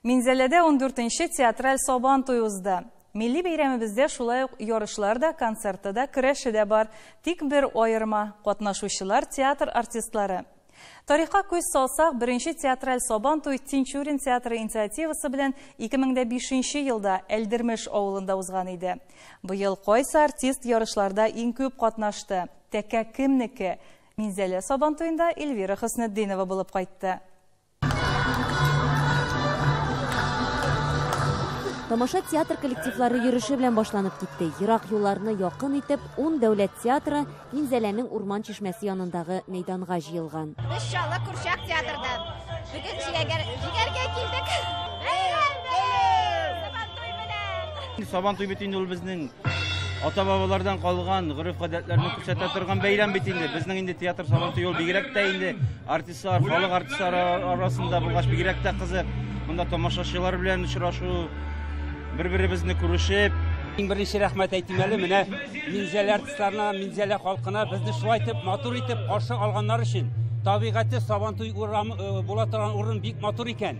Минзәләдә ундүртенче театраль Сабан туе узды. Милли бәйрәмебездә шулай ук ярышлар да, концерты да, көрәше дә бар. Тик бер аерма, катнашучылар, театр артистлары. Тарихка күз салсак, беренче театраль Сабан туй Тинчурин театры инициативасы белән 2005 нче елда Әлдермеш авылында узган иде. Быел кайсы артист ярышларда иң күп катнашты? Тәкә кемнеке? Минзәлә Сабан туенда Эльвира Хөснетдинова булып кайтты. Тамаша театр коллективлары йөреше белән башланып китте. Ерак юлларны якын итеп, ун дәүләт театры Минзәләнең урман чишмәсе янындагы мәйданга җыелган. Без Чаллы курчак театрда. Бүген җигәр, җигәргә килдек. Бәйрәм, бәйрәм! Сабантуй белән! Сабантуй бит инде ул безнең ата бабалардан калган гореф гадәтләрне күрсәтә торган бәйрәм бит инде. Безнең инде театр сабантуй ул бигрәк тә инде артист Халык артистлары арасында булгач бигрәк тә кызык. Монда тамашачылар белән очрашу, бер-беребезне күрешеп, Иң беренче рәхмәт әйтим әле менә Минзәлә артистларына, Минзәлә халкына безне шулай итеп матур итеп каршы алганнар өчен. Табигате Сабантуй урамы э, була торган урын бик матур икән.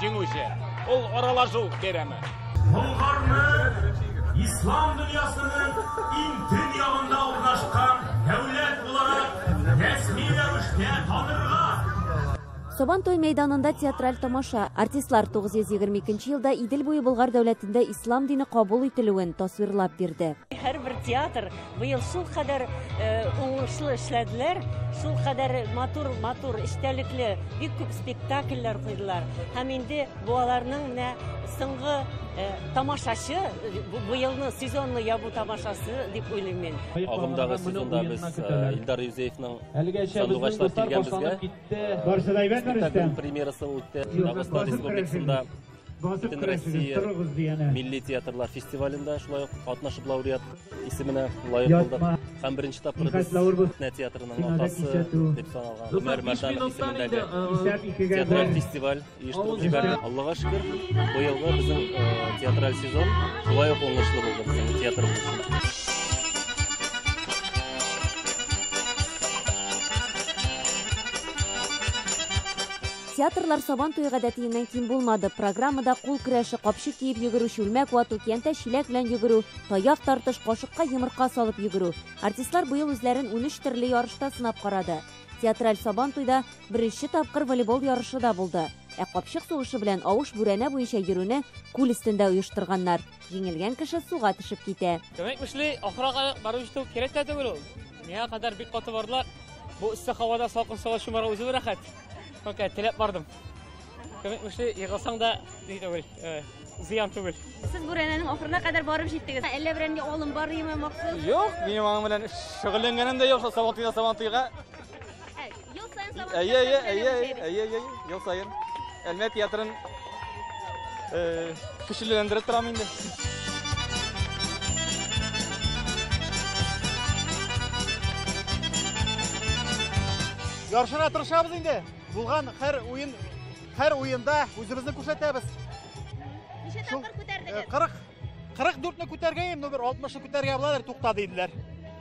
Җиңүче ул аралашу бәйрәме. Болгарны ислам дөньясының иң төн ягында урнашкан дәүләт буларак рәсми рәвештә танырга Сабантуй мәйданында театраль тамаша. Артистлар 922 елда Идел буе Болгар дәүләтендә ислам дине кабул ителүен тасвирлап бирде. Һәрбер театр Быел шул кадәр уңышлы эшләделәр, шул кадәр матур, матур, эчтәлекле, бик күп спектакльләр куйдылар. Һәм инде бу аларның менә соңгы тамашачы, бу елны сезонны ябу тамашасы дип уйлыйм мин. Агымдагы сезонда без Илдар Юзеевның сандугачлар килгән безгә. Барсы да әйбәтме, Рөстәм? Премьерасы үтте. Дагыстан республикасында Бөтен Россия милли театрлар фестивалендә шулай ук катнашып лауреат исеменә лаек булдык. Һәм беренче тапкыр без Сәхнә театрының атасы дип саналган Гомәр Мәрданов исемендәге театраль фестиваль оештырып җибәрде. Аллага шөкер, быелгы безнең театраль сезон шулай ук уңышлы булды безнең театрыбыз өчен. Театрлар Сабан туе гадәтиеннән ким булмады. Программада кул көрәше, капчык киеп йөгерү, чүлмәк вату, киянтә чиләк белән йөгерү, таяк тартыш, кашыкка йомырка салып йөгерү. Артистлар быел үзләрен унөч төрле ярышта сынап карады. Театраль Сабан туйда беренче тапкыр волейбол ярышы да булды. Ә капчык сугышы белән авыш бүрәнә буенча йөрүне күл өстендә оештырганнар. Җиңелгән кеше суга төшеп китә. Кемек мешли, ахырага барып җитү кирәк тә түгел ул. Миңа кадәр бик каты бардылар. Бу эссе һавада салкын суга чумарга үзе бер рәхәт. Только теләп бардым. Көмек мөшле егылсаң да ни түгел, зыян түгел. Сез бүрәнәнең ахырына кадәр барып җиттегез. Әллә бүрәнгә алым бармы махсус? Юк, минем аның белән шөгыльләнгәнем дә юк, сабан туйда сабан туйга. Ел саен сабан. Әйе, әйе, әйе, әйе, әйе, ел саен. Әлмәт театрын Көчлеләндереп торам инде. Яршыра тырышабыз инде. Булган һәр уен, һәр уенда үзебезне күрсәтәбез. Ничә тапкыр күтәрдегез? 40 44-не күтәргәем, ну бер 60-ны күтәргә буладыр, тукта диделәр.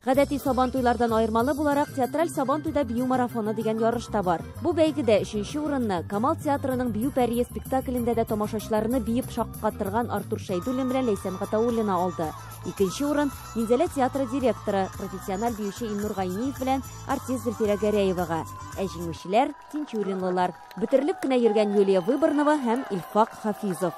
Гадәти сабан туйлардан аермалы буларак, театраль сабан туйда бию марафоны дигән ярыш та бар. Бу бәйгедә өченче урынны Камал театрының Бию пәрие спектаклендә дә тамашачыларны биеп шаккатырган Артур Шәйдуллин белән Ләйсән Гатауллина алды. Икенче урын Минзәлә театры директоры, профессиональ биюче Илнур Гайниев белән артист Зөлфирә Гәрәевага. Ә җиңүчеләр Тинчуринлылар, бөтерелеп кенә йөргән Юлия Выборнова һәм Илфак Хафизов.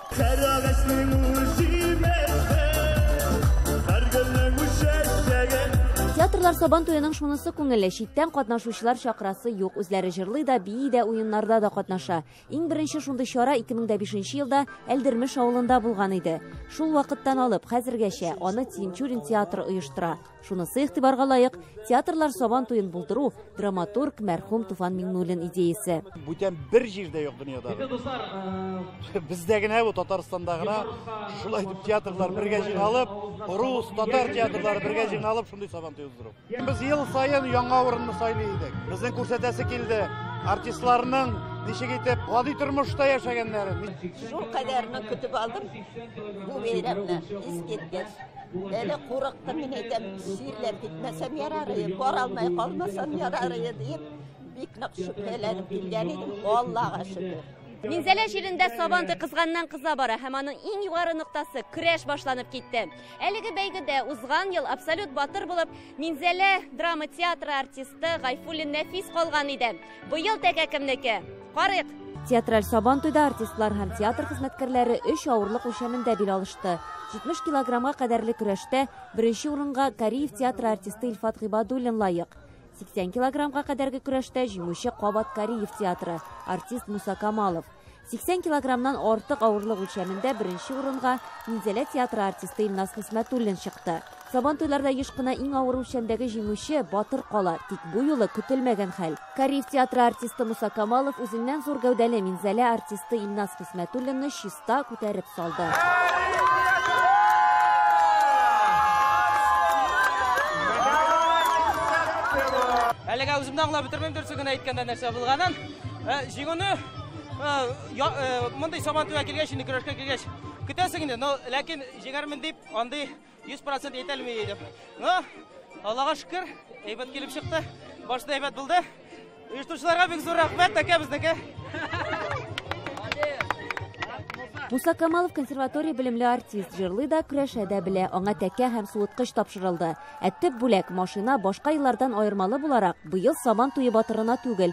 Театрлар Сабан туеның шунысы күңелле, читтән катнашучылар чакрасы юк, үзләре җырлый да, бии дә, уеннарда да катнаша. Иң беренче шундый чара 2005 елда Әлдермеш авылында булган иде. Шул вакыттан алып хәзергәчә аны Тинчурин театры оештыра. Шунысы игътибарга лаек, театрлар сабан туен булдыру драматург мәрхүм Туфан Миңнуллин идеясе. Бүтән бер җирдә юк дөньяда. Э, Бездә генә бу Татарстанда гына шулай дип театрлар бергә җыйналып, рус, татар театрлары бергә җыйналып шундый сабан туе уздыру. Без ел саен яңа урынны сайлый идек. Безнең күрсәтәсе килде. Артистларның ничек итеп гади тормышта яшәгәннәрен. Шул кадәрне көтеп алдым. Бу бәйрәмне искиткеч. Әле курыктым, мин әйтәм, чирләп китмәсәм ярар иде, бара алмай калмасам ярар иде дип, бик нык шөбһәләнеп килгән идем, Аллага шөкер. Минзәлә җирендә сабантуй кызганнан кыза бара һәм аның иң югары ноктасы көрәш башланып китте. Әлеге бәйгедә узган ел абсолют батыр булып Минзәлә драма театры артисты Гайфуллин Нәфис калган иде. Быел тәкә кемнеке? Карыйк! Театраль Сабантуйда артистлар һәм театр хезмәткәрләре өч авырлык үлчәмендә бил алышты. 70 килограммга кадәрле көрәштә беренче урынга Кариев театры артисты Илфат Гыйбадуллин лаек. 80 килограммга кадәрге көрәштә җиңүче кабат Кариев театры, артист Муса Камалов. 80 килограммнан артык авырлык үлчәмендә беренче урынга Минзәлә театры артисты Илназ Хисмәтуллин чыкты. Сабан туйларда еш кына иң авыр үлчәмдәге җиңүче Батыр кала, тик бу юлы көтелмәгән хәл. Кариев театры артисты Муса Камалов үзеннән зур гәүдәле Минзәлә артисты Илназ Хисмәтуллинны чиста күтәреп салды. Әлегә үземне аңлап бетермим дөресен генә әйткәндә нәрсә булганын. Ә, җиңүне ә, я, ә, мондый сабантуйга килгәч, инде көрәшкә килгәч, көтәсең инде, но ләкин җиңәрмен дип, андый 100% әйтәлми идем. Но Аллага шөкер, әйбәт килеп чыкты. Башта әйбәт булды. Оештыручыларга бик зур рәхмәт, тәкә безнеке. Муса Камалов консерватория белемле артист, җырлый да, көрәшә дә белә. Аңа тәкә һәм суыткыч тапшырылды. Ә төп бүләк машина башка еллардан аермалы буларак, быел Сабан туе батырына түгел,